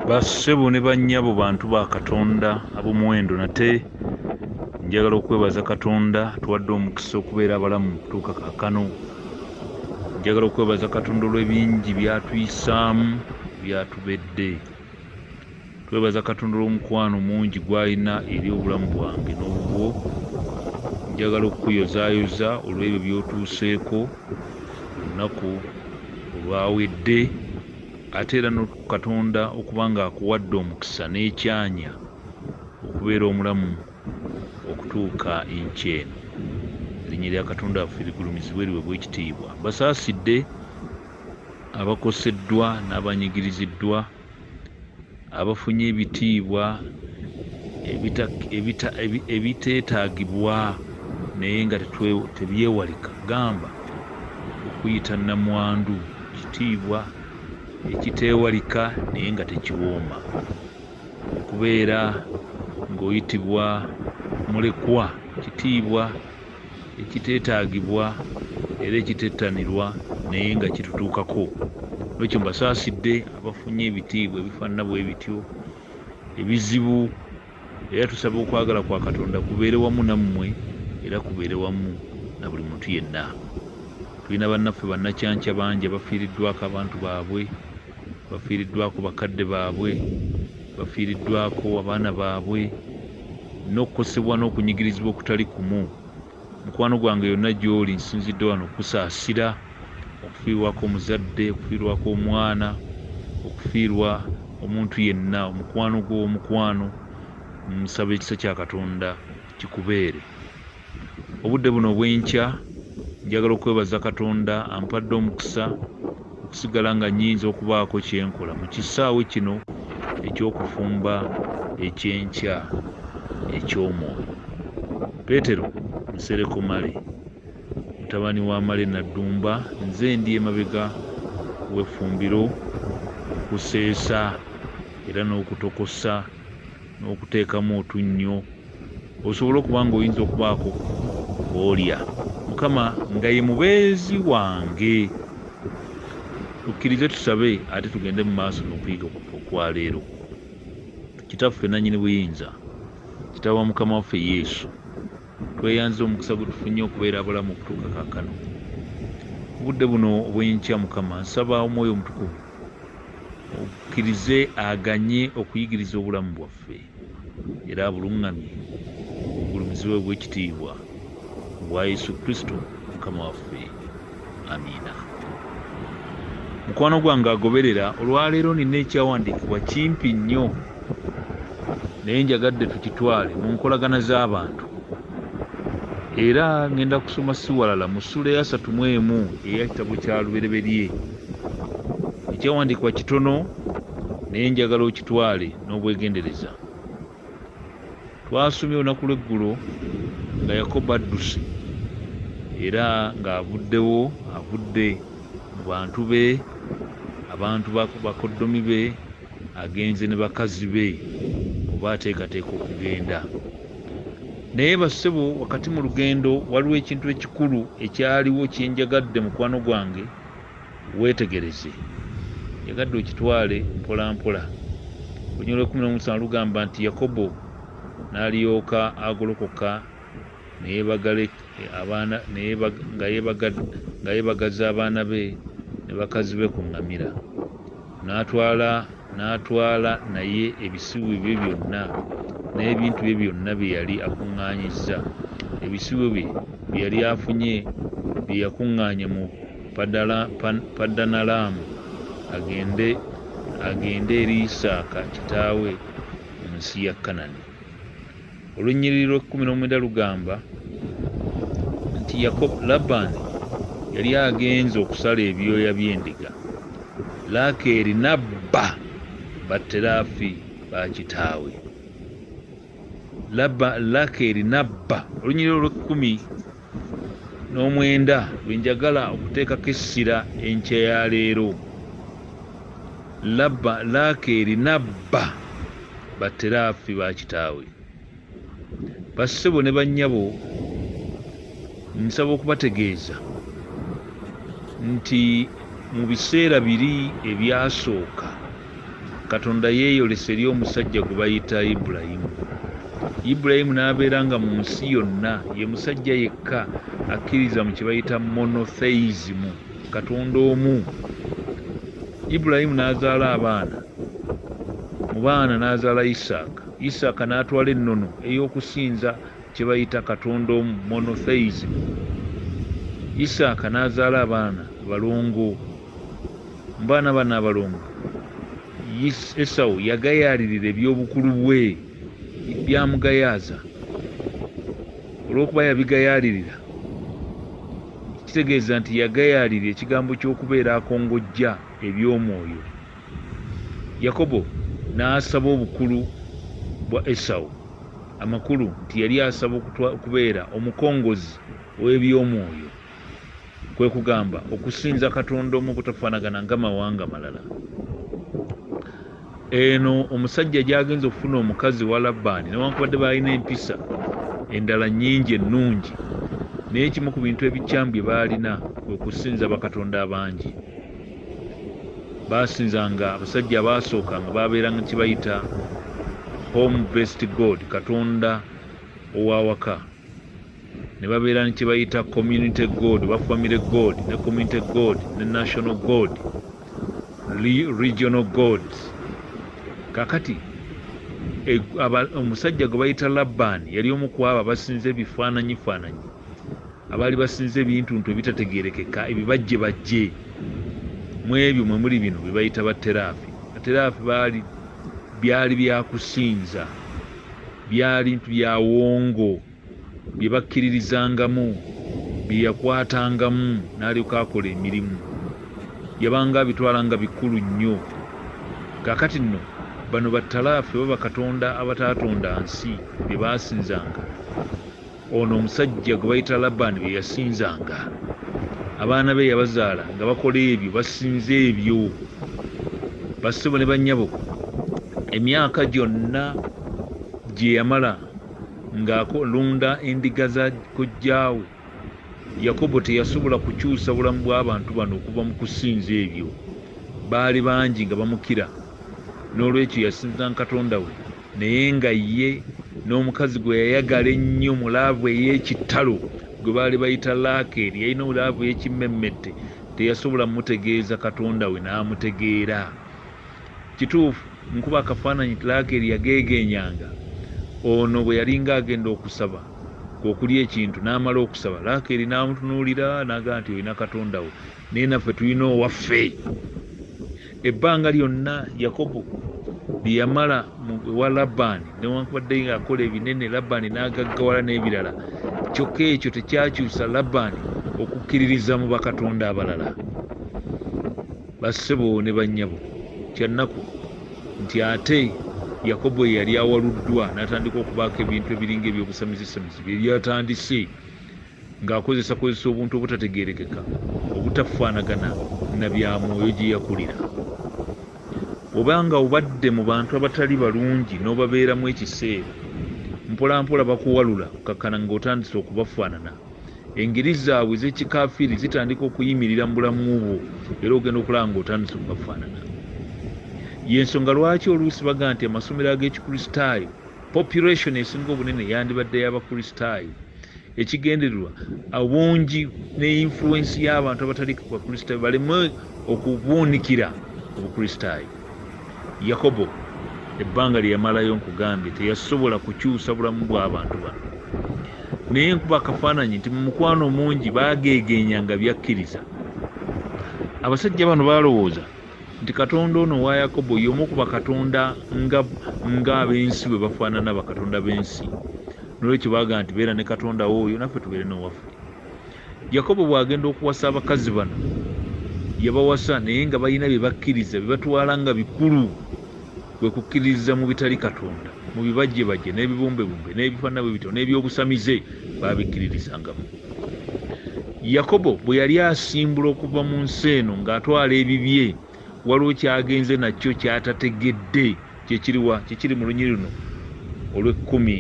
bassebo ne bannyabo bantu ba katonda ab'omuwendo nate njagala okwebaza katonda tuwadde omukisa okubeera abalamu tuuka kakano njagala okwebaza katonda olw'ebingi byatuyisaamu byatubedde twebaza katonda olwomukwano mungi gwalina eri obulamu bwange nobubwo njagala okukuyozayoza olwebyo byotuuseeko olunaku olwawedde ate era nokatonda okuba nga akuwadde omukisa n'ekyanya okubeera omulamu okutuuka enkya eno erinnya lya katonda waffe ligulumizibwa eriwe bwekitiibwa basaasidde abakoseddwa n'abanyigiriziddwa abafunye ebitiibwa ebiteetaagibwa naye nga tebyewalika gamba okuyita nnamwandu kitiibwa ekiteewalika naye nga tekiwooma okubeera ng'oyitibwa mulekwa kitiibwa ekiteetaagibwa era ekitettanirwa naye nga kitutuukako nokyo mbasaasidde abafunye ebitiibwa ebifaanana bwe bityo ebizibu era tusaba okwagala kwa katonda kubeere wamu nammwe era kubeere wamu na buli muntu yenna tulina bannaffe bannakyanca bangi abafiiriddwako abantu baabwe bafiiriddwako bakadde baabwe bafiiriddwako abaana baabwe n'okukosebwa n'okunyigirizibwa okutali kumu mukwano gwange yonna gy'oli nsinzidde wano okusaasira okufiirwako omuzadde okufiirwako omwana okufiirwa omuntu yenna omukwano gw'omukwano nsaba ekisa kya katonda kikubeere obudde buno obw'enkya njagala okwebaza katonda ampadde omukisa okusigala nga nyinza okubaako kyenkola mu kisaawe kino eky'okufumba ekyenkya eky'omwoyo peetero nsereko male mutabani wa male naddumba nze ndi emabega w'effumbiro okuseesa era n'okutokosa n'okuteekamu otunnyo osobola okuba ng'oyinza okubaako olya mukama nga ye mubeezi wange tukkirize tusabe ate tugende mu maaso nokuyiga okwaleero kitaffe nanyini buyinza kitaba mukama waffe yesu Tweyanza omukisa gwe tufunye okubeera abalamu okutuuka kaakano. Mu budde buno obw'enkya, Mukama, nsaba Omwoyo Omutukuvu okkirize aganye okuyigiriza obulamu bwaffe era abuluŋŋamye obugulumizibwe bw'ekitiibwa, ku bwa Yesu Kristo Mukama waffe. amiina mukwano gwange agoberera olwaleero nina ekyawandiikibwa kimpi nnyo naye njagadde tukitwale mu nkolagana z'abantu era ŋŋenda kusoma siwalala mu ssuula eyasatu mu emu eya kitabo kya lubereberye ekyawandiikibwa kitono naye njagala okitwale n'obwegendereza twasomye olunaku lw'eggulo nga yakobo adduse era ng'avuddewo avudde mu bantu be abantu bakoddomi be agenze ne bakazi be oba ateekateeka okugenda naye bassebo wakati mu lugendo waliwo ekintu ekikulu ekyaliwo kyenjagadde mukwano gwange Weetegereze, njagadde okitwale mpolampola. Olunyiriri olw'ekkumi n'omu lusana lugamba nti, Yakobo n'alyoka agolokoka ne yeebagala abaana, ne yeebag, nga yeebaga, nga yeebagaza abaana be ne bakazi be ku ŋŋamira. N'atwala, n'atwala naye ebisibo bye byonna, n'ebintu bye byonna bye yali akuŋŋaanyizza, ebisibo bye, bye yali afunye, bye yakuŋŋaanya mu Padala, Pa, Padanalaamu, agende, agende eri Isaaka kitaawe mu nsi ya Kanani. Olunnyiriri lw'ekkumi n'omwenda lugamba nti Yakobo Labbaani yali agenze okusala ebyoya by'endiga, Laakeeri n'abba baterafi ba kitaawe. Laakeeri n'abba. Olunnyiriri olw'ekkumi n'omwenda lwe njagala okuteekako essira enkya ya leero labba laakeeri nabba batteraafi ba kitaawe bassebo ne bannyabo nsaba okubategeeza nti mu biseera biri ebyasooka Katonda yeeyolesa eri omusajja gwe bayita Ibulayimu. Ibulayimu n'abeera nga mu nsi yonna ye musajja yekka akkiriza mu kye bayita monotheism, Katonda omu. Ibulayimu n'azaala abaana, mu baana n'azaala Isaaka. Isaaka n'atwala ennono ey'okusinza kye bayita Katonda omu, monotheism. Isaaka n'azaala abaana abalongo mbaana bano abalongo esawu yagayaalirira eby'obukulu bwe byamugayaaza olw'okuba yabigayaalirira kitegeeza nti yagayaalira ekigambo ky'okubeera akongojja eby'omwoyo yakobo n'asaba obukulu bwa esawu amakulu nti yali asaba okubeera omukongozi w'eby'omwoyo kwe kugamba okusinza katonda omu obutafaanagana nga mawanga malala eno omusajja gyagenza okufuna omukazi wa labbaani newankubadde baalina empisa endala nyingi ennungi naye ekimu ku bintu ebikyamu bye baalina kwe kusinza bakatonda abangi baasinzanga abasajja abaasooka nga baabeeranga kibayita home best god katonda owawaka ne babeera ne kye bayita community god oba family god ne community god ne national god regional god kakati e, omusajja gwe bayita labbaani yali omu ku abo abasinza ebifaananyi faananyi abaali basinza ebintu ntu ebitategerekeka ebibajje bajje mu ebyo mwe muli bino bye bayita bateraafi bateraafi baali byali byakusinza byali ntu byawongo bye bakkiririzangamu bye yakwatangamu n'alyoka akola emirimu yabanga abitwala nga bikulu nnyo kaakati nno bano battalaafu oba bakatonda abataatonda nsi be baasinzanga ono omusajja gwe bayita labani bye yasinzanga abaana be yabazaala nga bakola ebyo basinza ebyo basebo ne bannyabo emyaka gyonna gye yamala Ng'alunda endiga za kojjaawe, Yakobo teyasobola kukyusa bulamu bw'abantu bano okuva mu kusinza ebyo. Baali bangi nga bamukira. N'olwekyo yasinzanga Katonda we, naye nga ye n'omukazi gwe yayagala ennyo mu laavu ey'ekitalo, gwe baali bayita Laakeeri, yalina laavu ey'ekimmemmette, teyasobola mutegeeza Katonda we n'amutegeera. Kituufu nkuba akafaananyi Tlaakeri yageegeenyanga ono bwe yalinga agenda okusaba okulya ekintu n'amala okusaba Laakeeri n'amutunuulira n'agamba nti olina katonda wo naye naffe tulina owaffe ebbanga lyonna Yakobo lye yamala ewa Labbaani newankubadde ng'akola ebinene Labbaani n'agaggawala n'ebirala kyokka ekyo tekyakyusa Labbaani okukkiririza mu bakatonda abalala. Bassebo ne bannyabo, kya nnaku nti ate Yakobo eyali awaluddwa n'atandika okubaako ebintu ebiringa eby'obusamizisamzi bye byatandise ng'akozesakozesa obuntu obutategeerekeka obutafaanagana na bya mwoyo gye yakulira. Oba nga obadde mu bantu abatali balungi n'obabeeramu ekiseera, mpolampola bakuwalula okkakkana ng'otandise okubafaanana. engeri zaabwe ez'ekikafiiri zitandika okuyimirira mu bulamu bwo era ogenda okulaba nga otandise okubafaanana yensonga lwaki oluusi baga nti amasomero ag'ekikristaayo population esinga obunene yandibadde y'abakristaayo ekigendererwa obungi ne influensi y'abantu abatali bakristaayo baleme okubuunikira obukristaayo Yakobo ebbanga lye yamalayo nkugambye teyasobola kukyusa bulamu bw'abantu bano naye nkuba akafaananyi nti mu mukwano mungi baageegeenya nga byakkiriza abasajja bano baalowooza nti katonda ono wa yakobo y'omu ku bakatonda ng'ab'ensi bwe bafaanana bakatonda b'ensi nolwekyo baaga nti beera ne katonda wo oyo naffe tubeere n'owaffe Yakobo bw'agenda okuwasa abakazi bano, yabawasa naye nga balina bye bakkiriza bye batwala nga bikulu, kwe kukkiririza mu bitali Katonda, mu bibajjebajje n'ebibumbebumbe n'ebifaanana bwe bityo n'eby'obusamize baabikkiririzangamu. Yakobo bwe yali asimbula okuva mu nsi eno ng'atwala ebibye, waliwo kyagenze nakyo kyatategedde kyekiriwa kyekiri mu lunyiri luno olwekkumi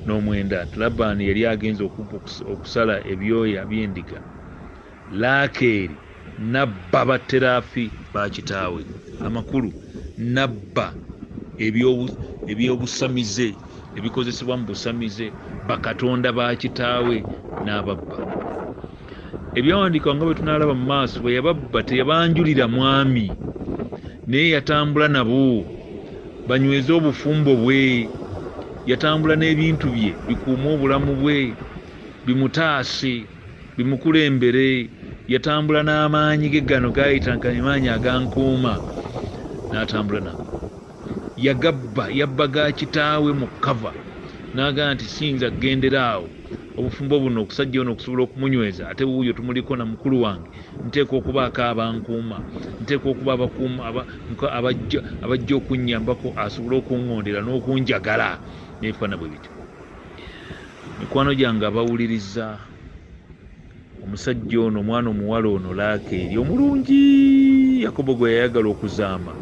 n'omwenda labani yali agenze okusala ebyoya byendiga laakeeri nabba baterafi bakitaawe amakulu nabba ebyobusamize ebikozesebwa mu busamize bakatonda bakitaawe n'ababba ebyawandiikibwa nga bwe tunaalaba mu maaso bwe yababba teyabanjulira mwami naye yatambula nabo banyweze obufumbo bwe yatambula n'ebintu bye bikuume obulamu bwe bimutaase bimukulembere yatambula n'amaanyi ge gano gayita nka emaanyi agankuuma n'atambula nabo yagabba yabba ga kitaawe mu cover nagamba nti siyinza gendera awo obufumbo buno okusajja ono okusobola okumunyweza ate wuuyo tumuliko na mukulu wange nteeka okubaako abankuuma nteeka okuba abakuuma abajja okunnyambako asobole okungondera n'okunjagala nebifaana bwe bityo mikwano gyange abawuliriza omusajja ono omwana omuwala ono laakeeri omulungi yakobo gwe yayagala okuzaama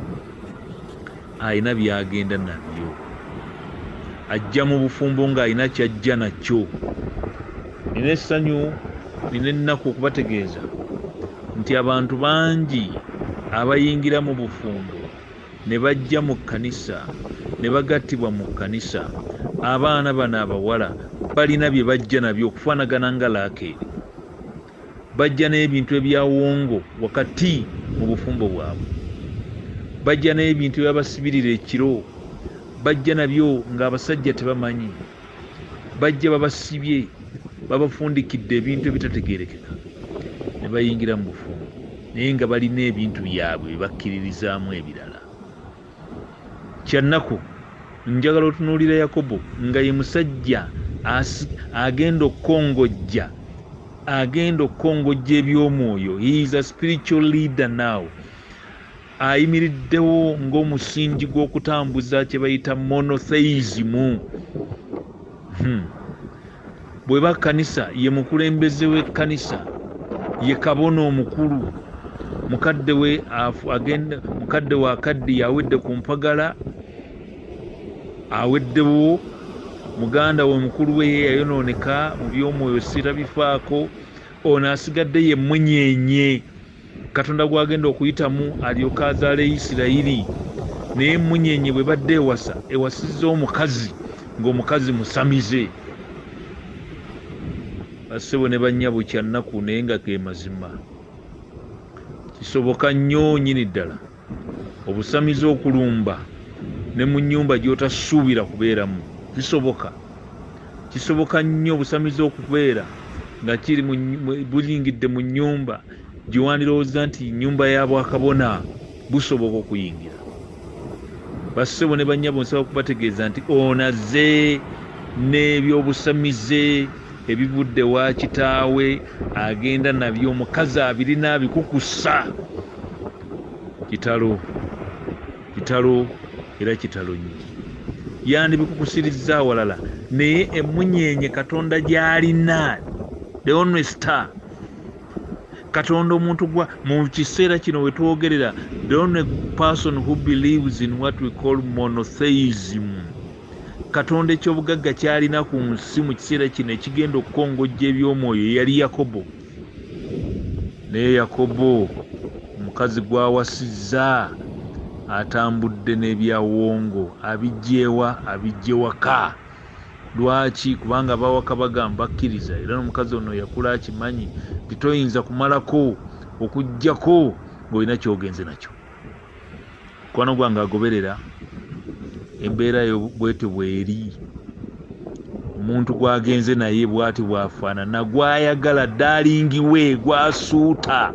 alina byagenda nabyo ajja mu bufumbo ng'alina kyajja nakyo nina essanyu nina ennaku okubategeeza nti abantu bangi abayingira mu bufumbo ne bajja mu kkanisa ne bagattibwa mu kkanisa abaana bano abawala balina bye bajja nabyo okufaanagana nga laakeeri bajja n'ebintu ebyawongo wakati mu bufumbo bwabwe bajja n'ebintu ebyabasibirira ekiro bajja nabyo ng'abasajja tebamanyi bajja babasibye babafundikidde ebintu ebitategerekeka ne bayingira mu bufumbo naye nga balina ebintu byabwe bebakkiririzaamu ebirala kyannaku njagala otunuulira yakobo nga ye musajja agenda okukongojja agenda okukongojja eby'omwoyo he is a spiritual leader now ayimiriddewo ng'omusingi gw'okutambuza kye bayita monotheizimu hmm. bweba kkanisa ye mukulembeze w'ekkanisa ye kabona omukulu mukadde we agenda mukadde we akaddi yawedde ku mpagala aweddewo muganda we mukulu we ye yayonooneka mu by'omwoyo sirabifaako ono asigadde ye mmunyenye katonda gwagenda okuyitamu alyoke azaale isirayiri naye emunyenye bwe badde ewasa ewasizza omukazi ng'omukazi musamize bassebo ne bannyabo kyannaku naye nga ge mazima kisoboka nnyo nyini ddala obusamize okulumba ne mu nyumba gyotasuubira kubeeramu kisoboka kisoboka nnyo obusamize okubeera nga kiri buyingidde mu nyumba gyewandirowooza nti nyumba ya bwakabona busoboka okuyingira bassebo ne banyabo nsaba okubategeeza nti onaze n'ebyobusamize ebivudde wa kitaawe agenda nabyo omukazi abirina abikukusa kitalo kitalo era kitalo nnyo yandibikukusirizza awalala naye emunyeenye katonda gyalina the only star katonda omuntu gwa mu kiseera kino wetwogerera the only person who believes in what we call monotheism katonda ekyobugagga kyalina ku nsi mu kiseera kino ekigenda okukongojja eby'omwoyo yali yakobo Naye Yakobo omukazi gw'awasizza atambudde n'ebya Wongo abiggyewa? Abiggye waka. Lwaki? Kubanga abawaka bagamba bakkiriza era n'omukazi ono yakula akimanyi nti toyinza kumalako okuggyako ng'olina ky'ogenze nakyo. mukwano gwange agoberera embeera yo bwete bweri omuntu gwagenze naye bwati bwafaanana gwayagala dalingiwe gwasuuta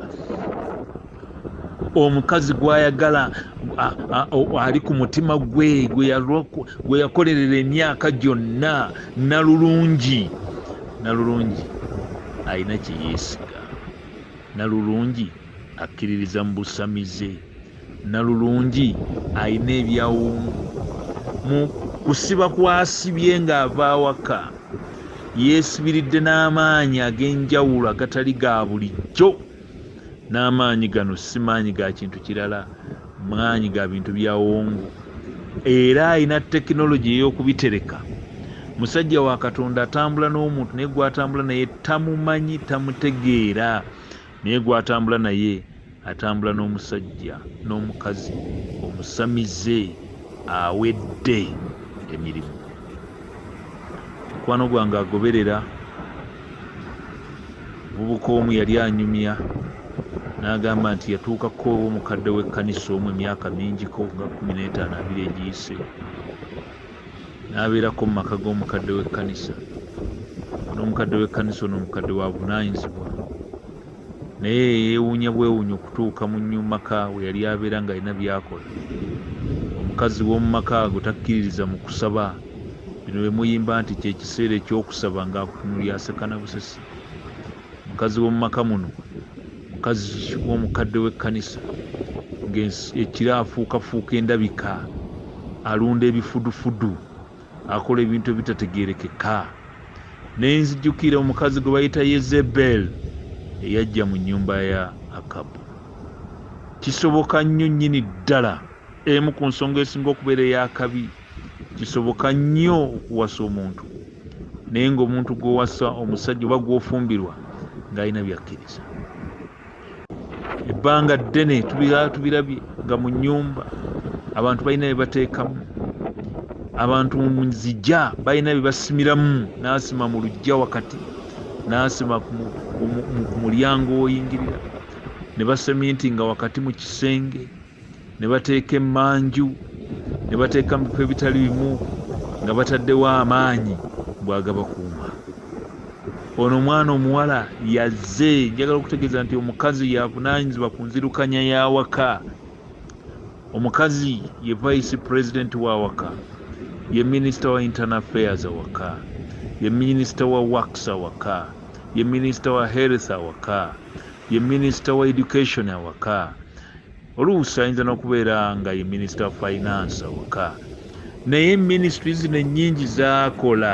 omukazi gwayagala ali ku mutima gwe gwe yakolerera emyaka gyonna nalulungi nalulungi alina kyeyeesiga nalulungi akkiririza mu busamize nalulungi alina ebyawongo mu kusiba kwasibye ng'ava awaka yeesibiridde n'amaanyi ag'enjawulo agatali ga bulijjo n'amaanyi gano si maanyi ga kintu kirala maanyi ga bintu byawongo era alina tekinologi ey'okubitereka musajja wa katonda atambula n'omuntu naye gwatambula naye tamumanyi tamutegeera Naye gwatambula naye atambula n'omusajja n'omukazi omusamize awedde emirimu. Mukwano gwange agoberera muvubuka omu yali anyumya n'agamba nti yatuukako omukadde w'ekkanisa omu emyaka mingiko nga kumi n'etaano abiri egiyise n'abeerako mu maka g'omukadde w'ekkanisa. N'omukadde w'ekkanisa ono omukadde wa bunaayinzibwa naye yeewuunya bwewuunya okutuuka mu nyu maka we yali abeera ng'alina by'akola. Omukazi w'omu maka ago takkiririza mu kusaba. Bino bye muyimba nti kye kiseera eky'okusaba ng'akutunuulira aseka na busesi. mukazi w'omu maka muno mukazi w'omukadde w'ekkanisa ng'ekira afuukafuuka endabika alunda ebifudufudu akola ebintu ebitategeerekeka ne nzijukira omukazi gwe bayita yezebel eyajja mu nnyumba ya akabu kisoboka nnyo nnyini ddala emu ku nsonga esinga okubeera ey'akabi kisoboka nnyo okuwasa omuntu naye ngaomuntu gwowasa omusajja oba gwofumbirwa ngaalina byakkiriza ebbanga ddene tubirabye nga mu nyumba abantu balina byebateekamu abantu muzija balina byebasimiramu nasima mu lujja wakati nasima ku mulyango woyingirira ne baseminti nga wakati mu kisenge ne bateeka emmanju ne bateeka mu bifo ebitali bimu nga bataddewo amaanyi bwagabakuuma ono omwana omuwala yazze njagala okutegeeza nti omukazi yavunanyizibwa ku nzirukanya y'awaka omukazi ye vice president w'awaka ye minisita wa internal affairs awaka ye minisita wa works awaka ye minisita wa health awaka ye minisita wa education awaka oluusi ayinza n'okubeera nga ye minisita wa finance awaka naye ministry zino ennyingi zakola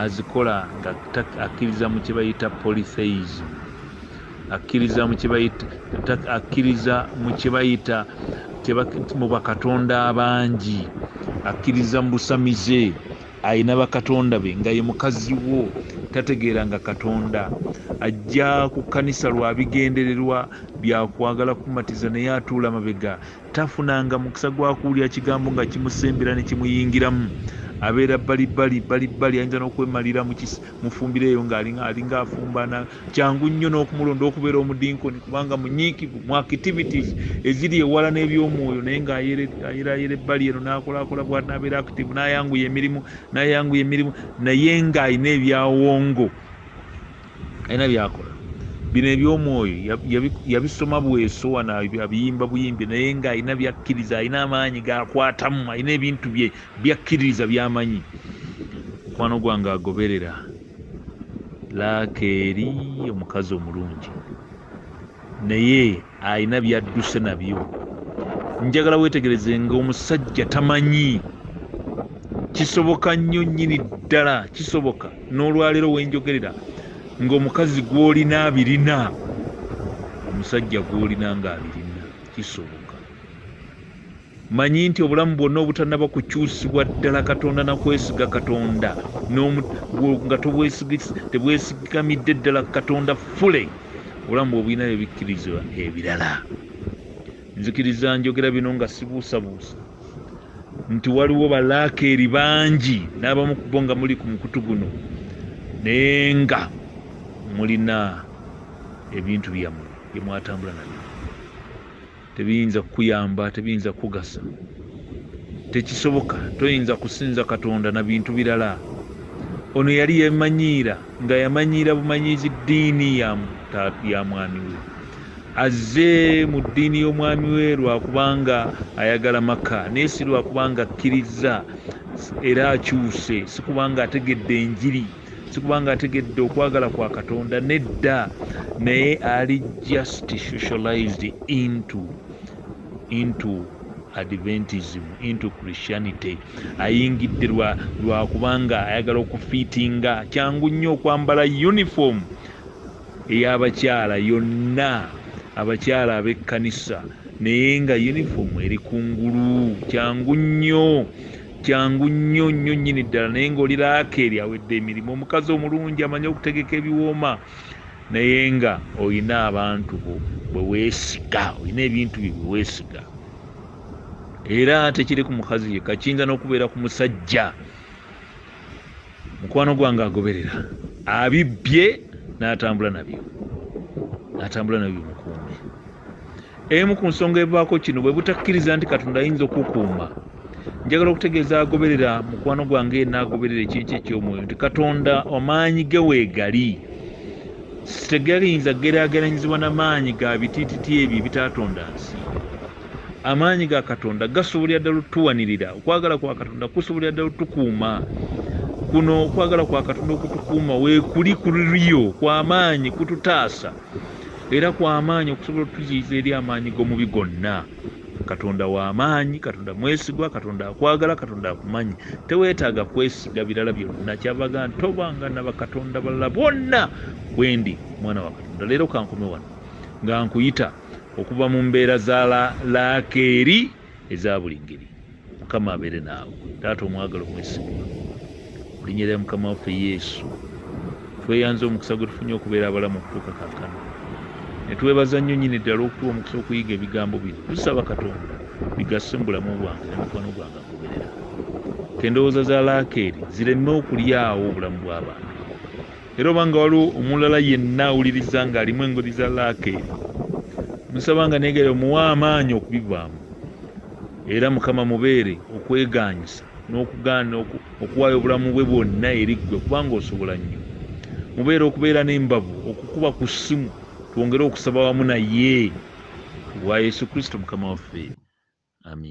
azikola nga akkiriza mu kyebayita polytheism akkiriza mu kyebayita akkiriza mu kyebayita mu bakatonda abangi akkiriza mu busamize Alina bakatonda be nga ye mukazi wo tategeera nga katonda ajja ku kanisa lwa bigendererwa byakwagala kumatiza naye atuula mabega tafunanga mukisa gwa kuwulira kigambo nga kimusembera ne kimuyingiramu abeera balibbali balibbali ayinza n'okwemalira mufumbiro eyo ng'alinga afumba kyangu nnyo n'okumulonda okubeera omudinkoni kubanga munyiikivu mu activities eziri ewala n'ebyomwoyo naye ng'ayeraayera ebbali eno n'akolaakola bwanabeera active n'ayanguya emirimu n'ayanguya emirimu naye ng'alina ebyawongo alina byakola bino ebyomwoyo yabisoma bweso wano abiyimba buyimbi naye ng'alina byakkiriza alina amaanyi gakwatamu alina ebintu bye byakkiririza byamanyi mukwano gwange agoberera laakeeri omukazi omulungi naye alina byadduse nabyo njagala weetegereze nga omusajja tamanyi kisoboka nnyo nnyini ddala kisoboka n'olwaleero wenjogerera ng'omukazi gw'olina abirina omusajja gw'olina ng'abirina kisoboka Manyi nti obulamu bwonna obutanaba kukyusibwa ddala Katonda na kwesiga Katonda nga tebwesigamidde ddala Katonda fule obulamu bwe obulina ebikkirizwa ebirala. Nzikiriza njogera bino nga sibuusabuusa nti waliwo balaakeeri bangi n'abamu ku bo nga muli ku mukutu guno naye nga mulina ebintu byammwe bye mwatambula nabyo. tebiyinza kukuyamba tebiyinza kukugasa tekisoboka toyinza kusinza katonda na bintu birala ono yali yemanyiira nga yamanyiira bumanyiizi ddiini ya mwami we azze mu ddiini y'omwami we lwakubanga ayagala maka naye si lwakubanga akkirizza era akyuse sikubanga ategedde enjiri sikubanga ategedde okwagala kwa katonda nedda naye ali just socialized into into adventism into christianity ayingidde lwakubanga ayagala okufiitinga kyangu nnyo okwambala uniform eyabakyala yonna abakyala ab'ekkanisa naye nga uniform eri kungulu kyangu nnyo kyangu nnyo nnyo nnyini ddala naye ng'oli laakeeri awedde emirimu omukazi omulungi amanyi okutegeka ebiwooma naye nga olina abantu bo bwe weesiga olina ebintu bye bwe weesiga era tekiri ku mukazi yekka kiyinza n'okubeera ku musajja mukwano gwange agoberera abibbye n'atambula nabyo n'atambula nabyo mukuumi emu ku nsonga evaako kino bwe butakkiriza nti katonda ayinza okukuuma njagala okutegeeza agoberera mukwano gwange n'agoberera ekintu eky'omwoyo nti katonda amaanyi ge weegali sitegayinza geraageranyizibwa na maanyi ga bitiititi ebyo ebitaatonda nsi amaanyi ga katonda gasobolera ddala otuwanirira okwagala kwa katonda kusobolera ddala otukuuma kuno okwagala kwa katonda okutukuuma wekuli kuliyo kwamaanyi kututaasa era kwamaanyi okusobola otuyiiza eri amaanyi g'omubi gonna katonda wamaanyi katonda mwesigwa katonda akwagala katonda akumanyi teweetaaga kwesiga birala byonna kyavaga ntobanga na bakatonda balala bwonna bwendi mwana wa katonda leero kankome wano nga nkuyita okuva mu mbeera za laakeeri eza buli ngeri mukama abeere naawe taata omwagala omwesigwa olinnya lya mukama waffe yesu tweyanza omukisa gwe tufunye okubeera abalamu okutuuka kakano netwebaza nnyo nyini ddala okutuwa omukisa okuyiga ebigambo bino tusaba katonda bigasse mu bulamu bwange ne mukwano gwange agoberera kendowooza za laakeeri zireme okulyawo obulamu bw'abantu era oba nga waliwo omulala yenna awuliriza ng'alimu engeri za laake musaba nga negere omuwa amaanyi okubivaamu era mukama mubeere okweganyisa n'okugaana okuwaayo obulamu bwe bwonna eri ggwe kubanga osobola nnyo mubeere okubeera n'embavu okukuba ku ssimu twongere okusaba wamu naye wa yesu kristo mukama waffe amin